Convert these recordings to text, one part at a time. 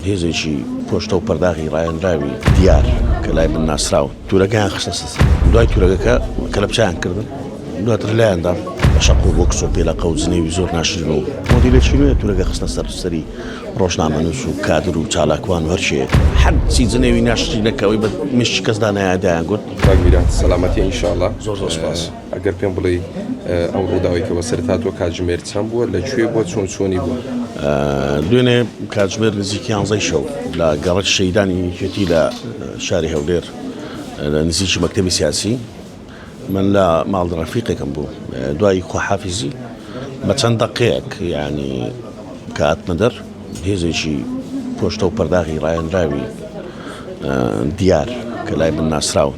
هێزێکی پۆشتەو پەرداغی ڕایەنراوی دیار کە لای من ناسراون تورەکەیان خستە سەر دوای تورەکەکە کەلەپچیان کردن دواتر لایاندا بە شەق و بۆکس و پێلەقە و جنێوی زۆر ناشرین و مۆدیلێکی نوێ تورەکە خستە سەر سەری ڕۆژنامەنووس و کادر و چالاکوان و هەرچێ حەدسی جنێوی ناشرینەکەوەی بە مشتی کەسدا نایادایان گوت کاک میران سەلامەتی ئینشاڵڵا زۆر زۆر سوپاس. ئەگەر پێم بڵێی ئەو ڕووداوی کە بەسەرت هاتووە کاتژمێر چەند بووە لە کوێ بووە چۆن چۆنی بووە دوێنێ کاتژمێر نزیکی یانزەی شەو لە گەڕەک شەیدانی یەکێتی لە شاری هەولێر لە نزیکی مەکتتەبی سیاسی من لە ماڵ ڕەفیقێکم بوو دوای خۆحافیزی بە چەند دەقەیەک ینی کاتمە دەر هێزێکی پۆشتە و پەرداغی ڕایەنراوی دیار کە لای من ناسراون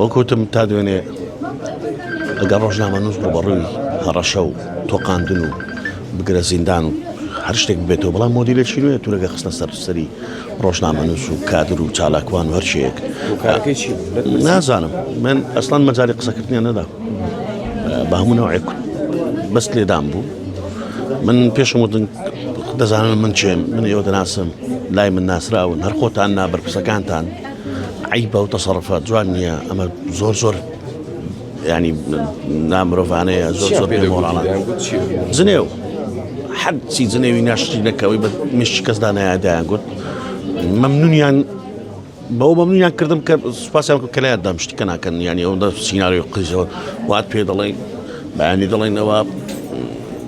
وەکوتم تا دوێنێ ئەگەر ڕۆژنامەنووس ڕوبەڕووی هەڕەشە و تۆقاندن و بگرە زیندان و هەر شتێک بێتەوە بەڵام مۆدیلێکی نوێ تورەگە خستە سەر سەری ڕۆژنامەنووس و کادر و چالاکوان و هەرچێک نازانم من ئەسلان مەجاری قسەکردنیان نەدا بە هەموو ناوێک بەست لێدان بوو من پێشم وتن دەزانم من چێم من ئێوە دەناسم لای من ناسراون هەر خۆتان نابەر قسەکانتان عەیبە ئەو تەسەڕوفە جوان نییە ئەمە زۆر زۆر ینی نامرۆڤانەیە زۆر زۆر پێ مۆڕانە جنێو حەدسی جنێوی ناشتی نەکەوەی بە مشت کەسدا نایدایان گوت مەمنونیان بەو مەمنونیان کردم کە سوپاسیان کە لایان دامشتی کە ناکەن ینی ئەودا سینناوی قیزەوە وات پێ دەڵێن بەیانی دەڵێنەوە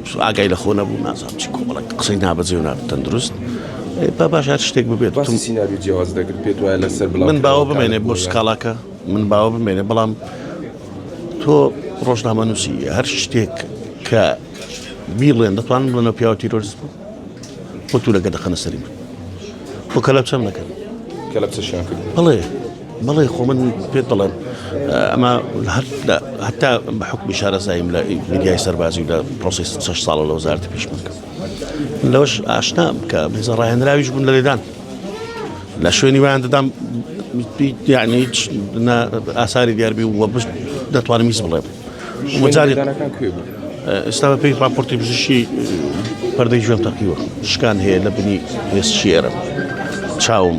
سو ئاگای لە خۆ نەبوو نازانم چی کۆمەڵێک قسەی نابەجێ و ناتەندروست ئەی با باش هەر شتێک ببێت باسی تم سیناریۆ جیاواز دەکرد پێت وایە لەسەر بڵاو من باوە کراوەکان بمێنێ بۆ بۆیە سکاڵاکە من باوە بمێنێ بەڵام تۆ ڕۆژنامە نووسی هەر شتێک کە بیڵێن دەتوانن بڵێنەوە پیاوە تیرۆرست بوو خۆ تورەکە دەخەنە سەری من خۆ کەلەپچەم نەکەن کەلەپچەشیان کرد بڵێ بەڵێ خۆ من پێت بڵێم ئەمە هەتا بە حکمی شارەزاییم لە میدیای سەربازی و لە پرۆسی شش ساڵە لە وەزارتی پیشمەکە لەوەش ئاشنا بکە بزە ڕاهێنراویش بوون لە لێدان لە شوێنی ویان دەدام یعنی ئاساری دیاربی وە بشت دەتوانم میز بڵێم وەجاری ئێستا بە پێی راپۆرتی بزیشی پەردەی ژێم تەقیوە شکان هەیە لە بنی هێست شێرم چاوم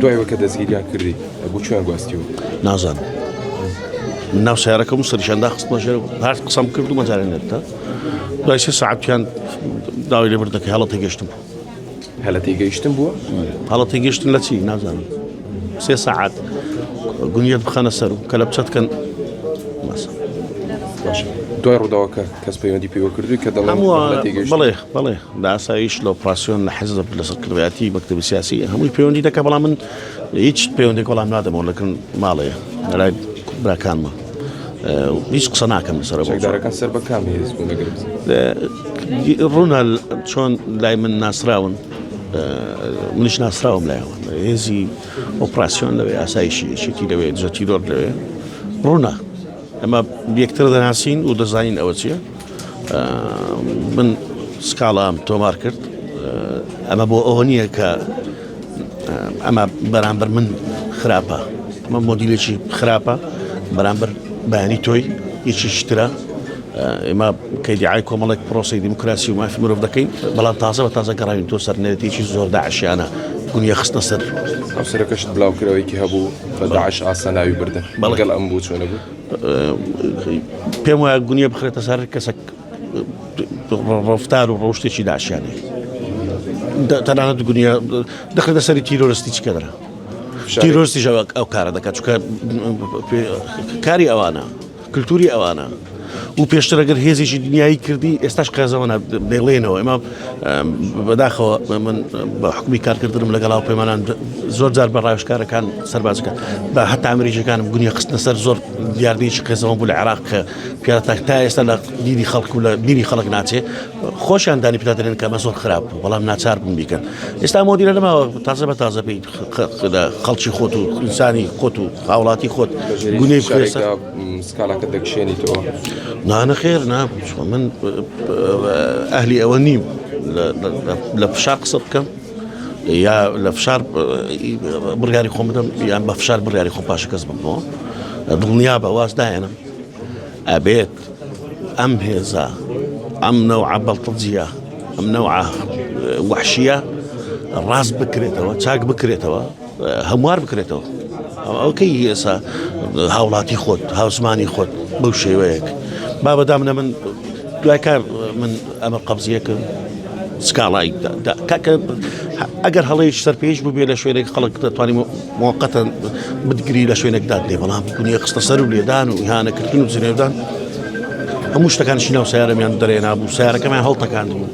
دوای ئەوەی کە دەستگیریان کردی بۆ چیان گواستیوە؟ نازانم. ناو سیارەکەم سەرشان داخستمە ژێر هەر قسەم کرد و مەجارێن نێتە دوای سێ سعاتیان داوای لێبر دەکە هەڵە تێگەشتم بوو هەلە تێگەیشتن بووە هەڵە تێگەشتن لە چی نازانم سێ سعات گونیت بخەنە سەر و کە لە بچەتکەن دوای ڕووداوەکە کەس پەیوەندی پێوە کردووی کە دەڵێ بڵێ بڵێ بە ئاسایش لە ئۆپراسیۆن لە حیزب لە سەرکردایەتی مەکتەبی سیاسی هەمووی پەیوەندی دەکە بەڵام من هیچ پەیوەندێک وەڵام نادەمەوە لەکن ماڵەیە لەلای براکانمە هیچ قسە ناکەم لەسەر بەکان سەر بەکامی ڕوونە چۆن لای من ناسراون منش ناسراوم لایەوە هێزی ئۆپراسسیۆن لەوێ ئاسایشی یەکێتی لەوێ دزەتی دۆر لەوێ ڕوونە ئەمە یەکتر دەناسین و دەزانین ئەوە چیە من سکاڵام تۆمار کرد ئەمە بۆ ئەوە نییە کە ئەمە بەرامبەر من خراپە ئەمە مۆدیلێکی خراپە بەرامبەر بەیانی تۆی هیچی شترە ئێمە کەدیعای کۆمەڵێک پرۆسی دیموکراسی و مافی مرۆڤ دەکەین بەڵام تازە بە تازە گەڕاوین تۆ سەرنێتێکی زۆر داعشیانە گونیە خستە سەر ئەو سەرەکەشت بلاوکرەوەیکی هەبوو بە داعش ئاسا ناوی بردن بەڵگەل ئەم بوو چۆنە بوو پێم وایە گونیە بخرێتە سەر کەسە ڕفتار و ڕۆشتێکی داشیانی تەنانەت گونیە دەخێتە سەری تیرۆرستی چکەدرا تیرۆستی ژەوەک ئەو کارە دەکات چکە کاری ئەوانە کلتوری ئەوانە و پێشتر ئەگەر هێزیی دنیایی کردی ئێستاش قێزەوەە دەڵێنەوە ئێمە بەداخەوە من بە حکومی کارکردنم لەگەڵاو پەیمانان زۆر جار بە ڕایشکارەکان سەربازەکە بە هەتا ئەمریکەکان گونی خستنە سەر زۆر دیاردەیەکی قێزەوە بوو لە عراق کە پیاتاک تا ئێستا لە دیری خەڵک و لە دیری خەڵک ناچێ خۆشیان دانی پیادرێن کە مە زۆر خراپ بوو بەڵام ناچار بوون بیکەن ئێستا مۆدیرە لەماوە تازە بە تازە پێیت خەڵکی خۆت و ئینسانی خۆت و هاوڵاتی خۆت گونەی سکالاکە دەکشێنی تۆ نانە خێر نا من ئەهلی ئەوە نیم لە فشا قسە بکەم یا لە فشار بڕیاری خۆم بدەم یان بە فشار بڕیاری خۆ پاشە کەس بکەمەوە دڵنیا بە واز داێنم ئەبێت ئەم هێزە ئەم نەوعە بەڵتەجیە ئەم نەوعە وحشیە ڕاست بکرێتەوە چاک بکرێتەوە هەموار بکرێتەوە ئەوکەی ئێسا هاوڵاتی خۆت هاوسمانی خۆت بەو شێوەیەک با بەدامنە من دوای کار من ئەمە قبزیەکەم سکاڵای کاکە ئەگەر هەڵەیش سەرپێش بوو بێ لە شوێنێک خەڵک دەتوانین موقتا بتگری لە شوێنێک داد لێ بەڵام دنیا خستە سەر و لێدان و ئیهانەکردن و جنێودان هەموو شتەکانشی ناو سیارەمیان دەرێ نابوو سیارەکەمیان هەڵتەکان بوو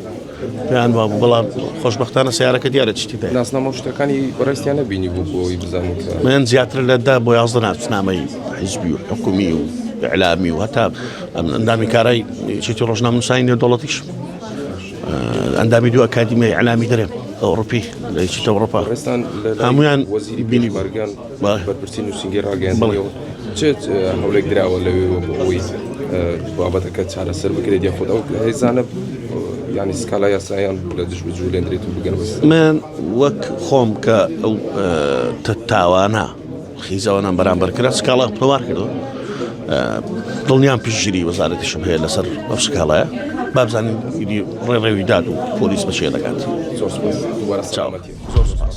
پێیان وا بوو بەڵام خۆشببختانە سیارەکە دیارە چتی دە ناسنامە شتەکانی بەڕستیان نبینی بوو بۆی بزانین من زیاتر لەدا بۆ یازدە ناسنامەی حیزبی و حکومی و اعلامی و هەتا ئەندامی کارای چێتی ڕۆژناموسانی نێودوڵەتیش ئەندامی دوو ئەکادیمیای ئەلامی دەرێن ئەوڕپی لەیشتە ئەوڕپا ڕستان هەمویان وەزیری بینی بەرگان بەرپرسی نووسنگی ڕاگەیانەوە چێت هەولێک دراوە لەوێ بۆەوەی بابەتەکە چارەسەر بکرێت یا خۆ ئەو هێزانە ینی سکالا یاسایان لە دژ بجوولێنرێت و بگەن من وەک خۆم کە ئەو تاوانە خیزەوانان بەرامبەر کرا سکاڵا هەڵوار کردو دڵنیام پشتگیری وەزارەتیشم هەیە لەسەر ئەو سکاڵایە بابزانین ڕێڕێوی داد و پۆلیس بەچێ دەکات زۆر سپاس دووبارە سلامەتی زۆر سپاس